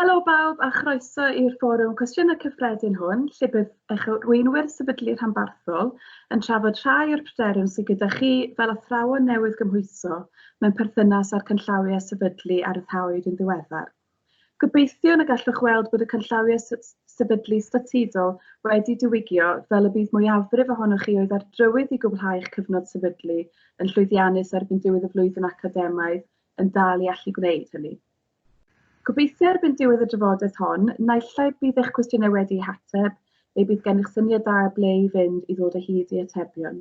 Helo bawb a chroeso i'r fforwm cwestiynau cyffredin hwn, lle bydd eich arweinwyr sefydlu rhanbarthol yn trafod rhai o'r pryderon sydd gyda chi fel athrawon newydd gymhwyso mewn perthynas â'r canllawiau sefydlu a ryddhawyd yn ddiweddar. Gobeithiwn y gallwch weld bod y canllawiau sefydlu statudol wedi diwygio fel y bydd mwyafrif ohonoch chi oedd ar drywydd i gwblhau eich cyfnod sefydlu yn llwyddiannus erbyn diwedd y flwyddyn academaidd yn dal i allu gwneud hynny. Gobeithio erbyn diwedd y drafodaeth hon, naill ai bydd eich cwestiynau wedi'u hateb neu bydd gennych syniad da ble i fynd i ddod o hyd i atebion.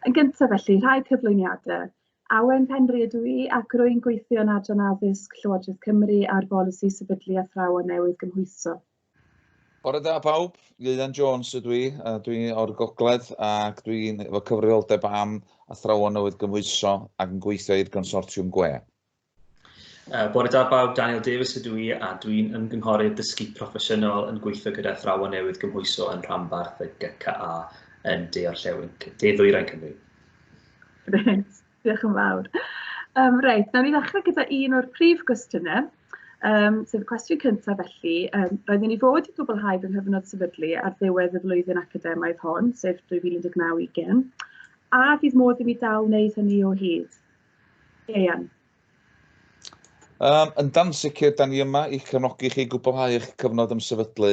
Yn gyntaf felly, rhai cyflwyniadau. Awen Penri ydw i ac rwy'n gweithio yn Adran Addysg Llywodraeth Cymru ar bolisi sefydlu athrawon newydd gymhwyso. Bore da pawb, Ieuan Jones ydw i, a dwi o'r gogledd ac dwi'n efo cyfrifoldeb am athrawon newydd gymhwyso ac yn gweithio i'r consortiwm gwe. Uh, bore da bawb, Daniel Davies ydw i a dwi'n ymgynghorydd dysgu proffesiynol yn gweithio gyda athrawon newydd gymhwyso yn rhanbarth y GCA yn De Orllewin, De Ddwyrain Cymru. Reit, diolch yn fawr. Um, reit, nawn ni ddechrau gyda un o'r prif gwestiynau, um, sef y cwestiwn cyntaf felly. Um, roedden ni fod i gwblhau fy nghyfnod sefydlu ar ddiwedd y flwyddyn academaidd hon, sef 2019-20, a fydd modd i mi dal wneud hynny o hyd. Ian. Um, yn dan sicr, da ni yma i'ch cefnogi chi gwblhau eich cyfnod ymsefydlu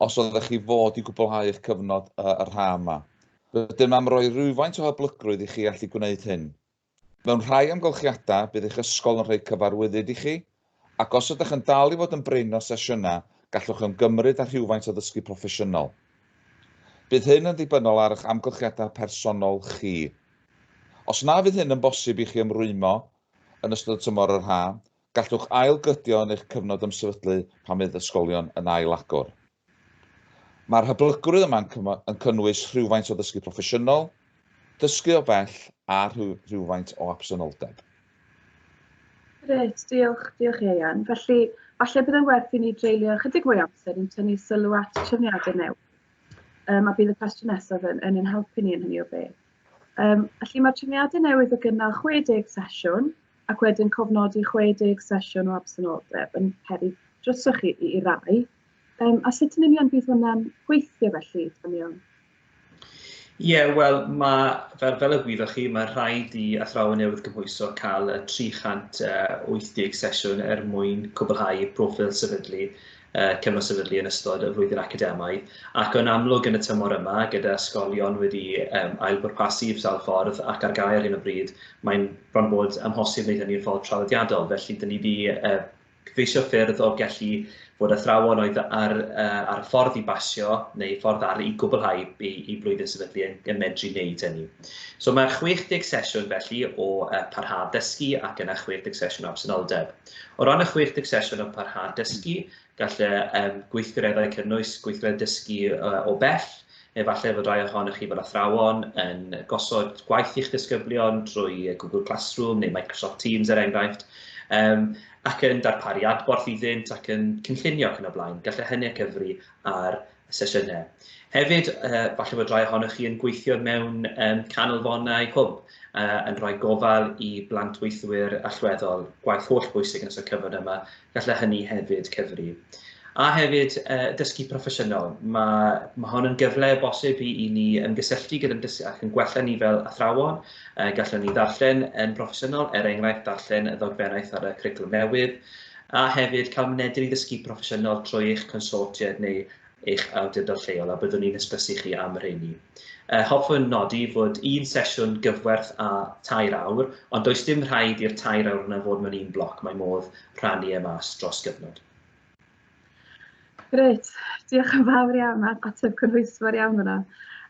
os oeddech chi fod i gwblhau eich cyfnod uh, y rha yma. Rydym am roi rhywfaint o hyblygrwydd i chi allu gwneud hyn. Mewn rhai amgylchiadau, bydd eich ysgol yn rhoi cyfarwyddyd i chi Ac os ydych yn dal i fod yn brin o sesiynau, gallwch ymgymryd â rhywfaint o ddysgu proffesiynol. Bydd hyn yn ddibynnol ar eich amgylchiadau personol chi. Os na fydd hyn yn bosib i chi ymrwymo yn ystod y tymor yr haf, gallwch ail-gydio yn eich cyfnod ymsefydlu pan fydd ysgolion yn ail-agor. Mae'r hyblygrwydd yma yn cynnwys rhywfaint o ddysgu proffesiynol, dysgu o bell a rhywfaint o absenoldeb. Grêt, diolch, diolch Ieuan. Felly, falle bydd yn werth i ni dreulio ychydig mwy amser yn tynnu sylw at trefniadau newydd. Um, a bydd y cwestiwn nesaf yn, yn ein helpu ni yn hynny o beth. Um, felly mae trefniadau newydd o gynnal 60 sesiwn ac wedyn cofnodi 60 sesiwn o absenoldeb yn peri drosoch chi i, i rai. Um, a sut yn union bydd hwnna'n gweithio felly, Daniel? Ie, yeah, wel, mae, fel, fel y gwyddoch chi, mae rhaid i athrawon newydd gymhwyso cael 380 sesiwn er mwyn cwblhau profil sefydlu, uh, cyfnod sefydlu yn ystod y flwyddyn academaidd. Ac o'n amlwg yn y tymor yma, gyda ysgolion wedi um, ailbwrpasu i'r sawl ffordd ac ar gael ar hyn o bryd, mae'n bron bod amhosib wneud hynny'n ffordd traddodiadol. Felly, dyn ni wedi uh, Cyfeisio ffyrdd o gellu fod athrawon oedd ar, uh, ar y ffordd i basio neu ffordd ar i gwblhau i, i blwyddyn sefydlu yn, yn medru wneud hynny. So mae 60 sesiwn felly o uh, parhad dysgu ac yna 60 sesiwn o absenoldeb. O ran y 60 sesiwn o parhad dysgu, gall y um, gweithgareddau cynnwys gweithgareddau dysgu uh, o bell, Efallai fod rhai ohonoch chi fel athrawon yn gosod gwaith i'ch disgyblion drwy Google Classroom neu Microsoft Teams er enghraifft, um, ac yn darparu adborth iddynt ac yn cynllunio ac yn y blaen. Gallai hynny cyfri ar y sesiynau. Hefyd, uh, falle bod rhai ohonoch chi yn gweithio mewn um, canolfonau hwb uh, yn rhoi gofal i blant weithwyr allweddol, gwaith holl bwysig yn ystod cyfnod yma Gallai hynny hefyd cyfri. A hefyd, uh, dysgu proffesiynol. Mae, mae hon yn gyfle o bosib i, i ni ymgysylltu gyda'n dysgu ac yn gwella ni fel athrawon. Uh, gallwn ni ddarllen yn broffesiynol, er enghraifft darllen y ddogfennaeth ar y cwricwlwm newydd, a hefyd cael mynediad i ddysgu proffesiynol trwy eich consortiad neu eich awdurdod lleol a byddwn ni'n hysbysu chi am y rheini. Uh, hoffwn nodi fod un sesiwn gyfwerth a tair awr, ond does dim rhaid i'r tair awr yna fod mewn un bloc, mae modd rhannu e mas dros gyfnod. Grêt, diolch yn fawr iawn, ateb cynhwysfawr iawn yna.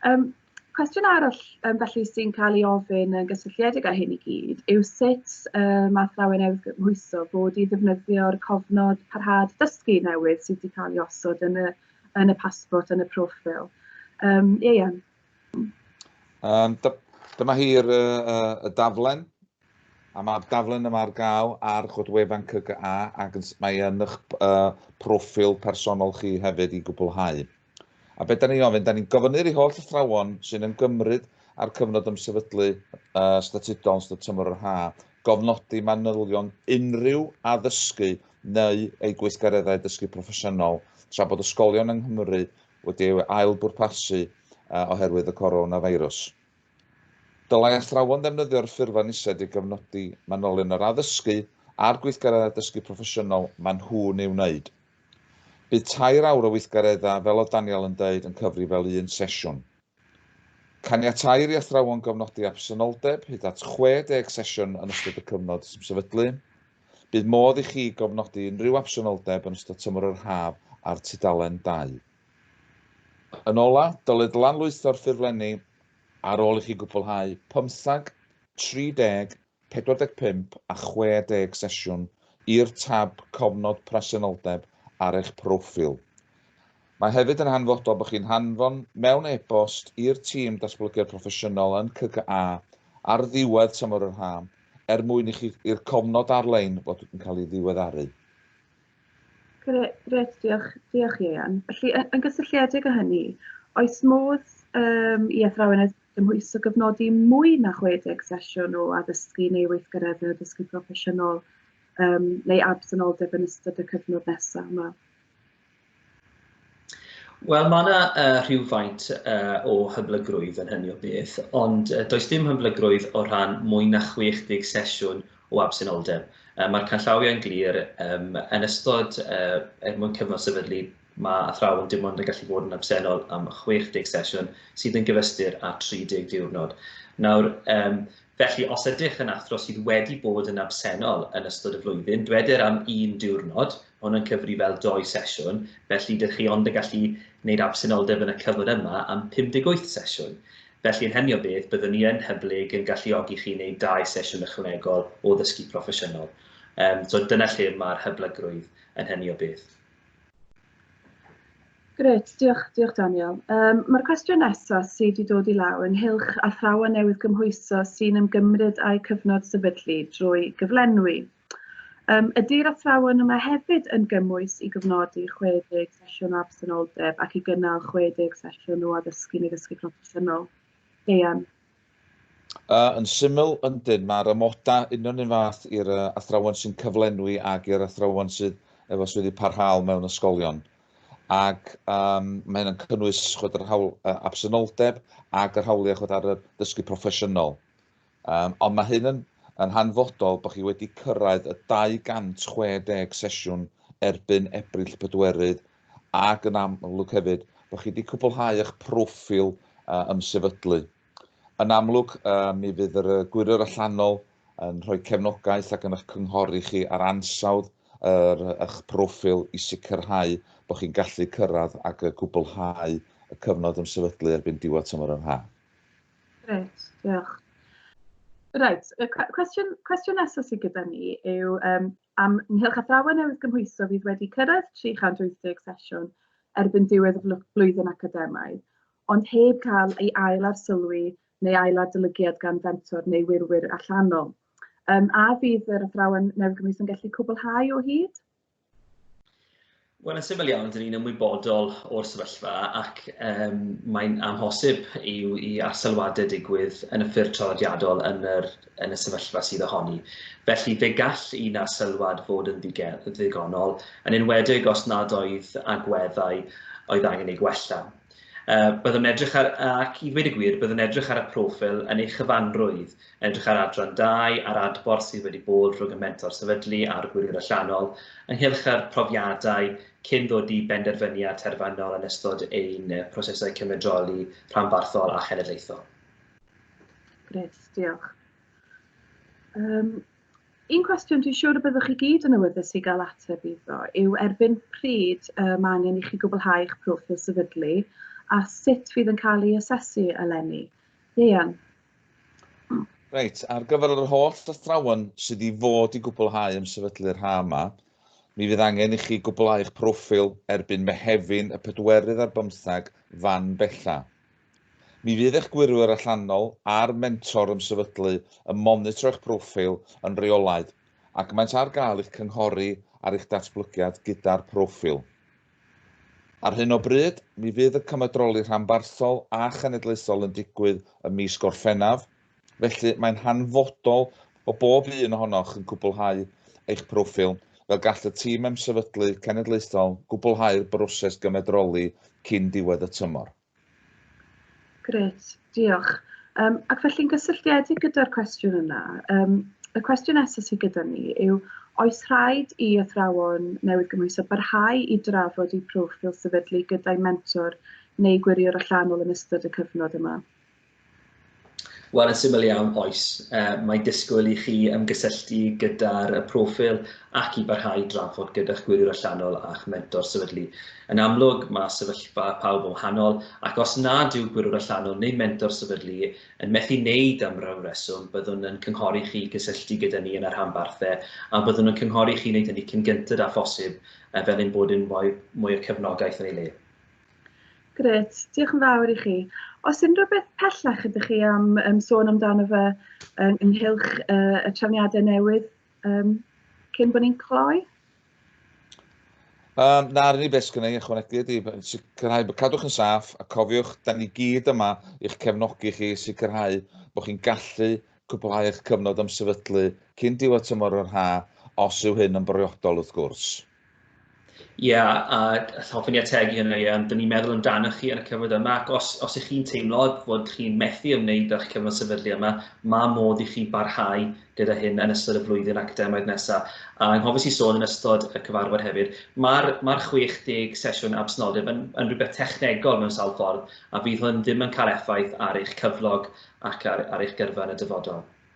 Um, Cwestiwn arall um, felly sy'n cael ei ofyn yn gysylltiedig â hyn i gyd yw sut um, mae athrawon newydd gymhwyso bod i ddefnyddio'r cofnod parhad dysgu newydd sydd wedi cael ei osod yn y, yn y pasbort, yn y profil. Um, Ieian. Um, dyma hi'r uh, y daflen, a mae'r daflen yma ar gael ar godwefan CGA ac mae yn eich uh, profil personol chi hefyd i gwblhau. A be da ni'n ofyn? Da ni'n gofynu'r i holl athrawon sy'n ymgymryd â'r cyfnod ymsefydlu uh, statudol yn ystod tymor yr ha, gofnodi manylion unrhyw addysgu neu ei gweithgareddau dysgu proffesiynol tra bod ysgolion yng Nghymru wedi ei ail bwrpasu uh, oherwydd y coronafeirws. Dylai athrawon ddefnyddio'r ffurflen ised i gyfnodi manylion yr addysgu a'r gweithgareddau dysgu proffesiynol maen nhw'n ei wneud. Bydd tair awr o weithgareddau, fel oedd Daniel yn deud, yn cyfri fel un sesiwn. Caniateir i athrawon gofnodi absenoldeb hyd at 60 sesiwn yn ystod y cyfnod sy'n sefydlu. Bydd modd i chi gofnodi unrhyw absenoldeb yn ystod tymor yr haf ar tudalen 2. Yn ola, dylid lanlwytho'r ffurflenni ar ôl i chi gwblhau pymthag, 30 45 a 60 sesiwn i'r tab Cofnod Presenoldeb ar eich proffil. Mae hefyd yn hanfodol bod chi'n hanfon mewn e-bost i'r tîm Datblygiad Proffesiynol yn CCA ar ddiwedd tymor yr haf er mwyn i chi i'r cofnod ar-lein fod yn cael ei ddiweddaru. Gret, diolch, diolch Ieuan. Felly, yn gysylltiedig â hynny, oes modd um, i athrawon Cymhwyso gofnodi mwy na 60 sesiwn o addysgu neu weithgareddau addysgu proffesiynol um, neu absenoldeb yn ystod y cyfnod nesaf yma. Wel, mae yna uh, rhywfaint uh, o hyblygrwydd yn hynny o beth, ond uh, does dim hyblygrwydd o rhan mwy na 60 sesiwn o absenoldeb. Uh, Mae'r canllawiau'n glir um, yn ystod uh, er mwyn cyfnod sefydlu Mae athrawon dim ond yn gallu bod yn absennol am 60 sesiwn, sydd yn gyfystyr â 30 diwrnod. Nawr, um, felly, os ydych yn athro sydd wedi bod yn absennol yn ystod y flwyddyn, dweder am un diwrnod, hwn yn cyfri fel doi sesiwn, felly dych chi ond yn gallu gwneud absenoldeb yn y cyfnod yma am 58 sesiwn. Felly yn hynny o beth, byddwn ni yn hyblyg yn galluogi chi wneud dau sesiwn ychwanegol o ddysgu proffesiynol. Um, so dyna lle mae'r hyblygrwydd yn hynny o beth. Grêt, diolch, diolch Daniel. Um, Mae'r cwestiwn nesaf sydd wedi dod i law ynghylch athrawon newydd gymhwyso sy'n ymgymryd â'u cyfnod sefydlu drwy gyflenwi. Um, ydy'r athrawon yma hefyd yn gymwys i gyfnodi 60 sesiwn o absenoldeb ac i gynnal 60 sesiwn o addysgu neu ddysgu proffesiynol? Deian. Uh, yn syml, yndyn, mae'r amodau union un fath i'r uh, athrawon sy'n cyflenwi ac i'r athrawon sydd efo swyddi parhaol mewn ysgolion. Ac um, mae hyn yn cynnwys chod yr hawl uh, absenoldeb ac yr hawliau chod ar y dysgu proffesiynol. Um, ond mae hyn yn, yn hanfodol bod chi wedi cyrraedd y 260 sesiwn erbyn Ebrill pedwerydd ac yn amlwg hefyd bod chi wedi cwblhau eich proffil uh, ymsefydlu. Yn amlwg, uh, mi fydd yr gwirio'r allanol yn rhoi cefnogaeth ac yn eich cynghori chi ar ansawdd yr, eich proffil i sicrhau bod chi'n gallu cyrraedd ac y cwblhau y cyfnod yn sefydlu erbyn diwedd tymor yn haf. Reit, diolch. Reit, y cwestiwn, cwestiwn nesaf sydd gyda ni yw, um, Am Nghylch Athrawon Newydd Gymhwyso fydd wedi cyrraedd 380 sesiwn erbyn diwedd y flwyddyn academaidd, ond heb cael ei ail-arsylwi neu ail-adolygiad gan fentor neu wirwyr allanol. Um, a fydd yr athrawon newydd gymhwyso'n gallu cwblhau o hyd? Wel yn syml iawn, dyn ni'n ymwybodol o'r sefyllfa ac um, mae'n amhosib i'w i arselwadau digwydd yn y ffyrdd traddodiadol yn, yr, yn y sefyllfa sydd ohoni. Felly fe gall un arselwad fod yn ddigonol, yn enwedig os nad oedd agweddau oedd angen ei gwella. Uh, byddwn edrych ar, ac i ddweud y gwir, byddwn edrych ar y profil yn ei chyfanrwydd, Edrych ar adran 2 a'r adborth sydd wedi bod rhwng y mentor sefydlu a'r gwiriwr allanol ynghylch yr profiadau cyn ddod i benderfyniad terfynol yn ystod ein prosesau cymedroli rhanbarthol a chenedlaethol. Gret, diolch. Um, un cwestiwn dwi'n siŵr y byddwch chi gyd yn awyddus i gael ateb iddo yw erbyn pryd y mae angen i chi gwblhau eich proffil sefydlu a sut fydd yn cael ei asesu eleni. Ieuan? Reit, ar gyfer yr holl athrawon sydd i fod i gwblhau am sefydlu'r ha yma, mi fydd angen i chi gwblhau'ch proffil erbyn Mehefin y pedwerydd ar bymthag fan bella. Mi fydd eich gwirwyr allanol a'r mentor ymsefydlu yn monitro eich proffil yn reolaidd ac maent ar gael i'ch cynghori ar eich datblygiad gyda'r proffil. Ar hyn o bryd, mi fydd y cymedroli rhanbarthol a chenedlaethol yn digwydd ym mis Gorffennaf, felly mae'n hanfodol bod bob un ohonoch yn cwblhau eich proffil fel gall y tîm emsefydlu cenedlaethol gwblhau'r broses gymedroli cyn diwedd y tymor. Grêt, diolch. Um, ac felly'n gysylltiedig gyda'r cwestiwn yna, um, y cwestiwn nesaf sydd gyda ni yw, oes rhaid i athrawon newydd gymwyso barhau i drafod eu profil sefydlu gyda'i mentor neu gwiriwr allanol yn ystod y cyfnod yma? Wel, yn syml iawn, oes. Uh, mae disgwyl i chi ymgysylltu gyda'r y profil ac i barhau drafod gyda'ch gwiriwr allanol a'ch mentor sefydlu. Yn amlwg, mae sefyllfa pawb yn wahanol, ac os nad yw gwiriwr allanol neu mentor sefydlu yn methu wneud am ryw reswm, byddwn yn cynghori chi cysylltu gyda ni yn y rhanbarthau a byddwn yn cynghori chi wneud hynny cyn gynted â phosib fel ein bod yn mwy, mwy o cefnogaeth yn ei le. Grêt, diolch yn fawr i chi. Os unrhyw beth pellach ydych chi am um, sôn amdano fe um, ynghylch uh, y trefniadau newydd um, cyn bod ni'n cloi? Um, na, rydyn ni beth sgynnu ychwanegu ydy, sicrhau bod cadwch yn saff a cofiwch, da ni gyd yma i'ch cefnogi chi sicrhau bod chi'n gallu cwblhau eich cyfnod am sefydlu cyn diwedd tymor yr ha, os yw hyn yn briodol wrth gwrs. Ie, a hoffwn i ategu hynny, ie, ond dyn ni'n meddwl amdanoch chi ar y cyfnod yma, ac os, os ych chi'n teimlo bod chi'n methu ymwneud â'ch cyfnod sefydlu yma, mae modd i chi barhau gyda hyn yn ystod y flwyddyn academaidd nesaf. A anghofus i sôn yn ystod y cyfarfod hefyd, mae'r ma 60 sesiwn absnoldeb yn, yn rhywbeth technegol mewn sawl ffordd, a fydd hwn ddim yn cael effaith ar eich cyflog ac ar, ar eich gyrfa yn y dyfodol.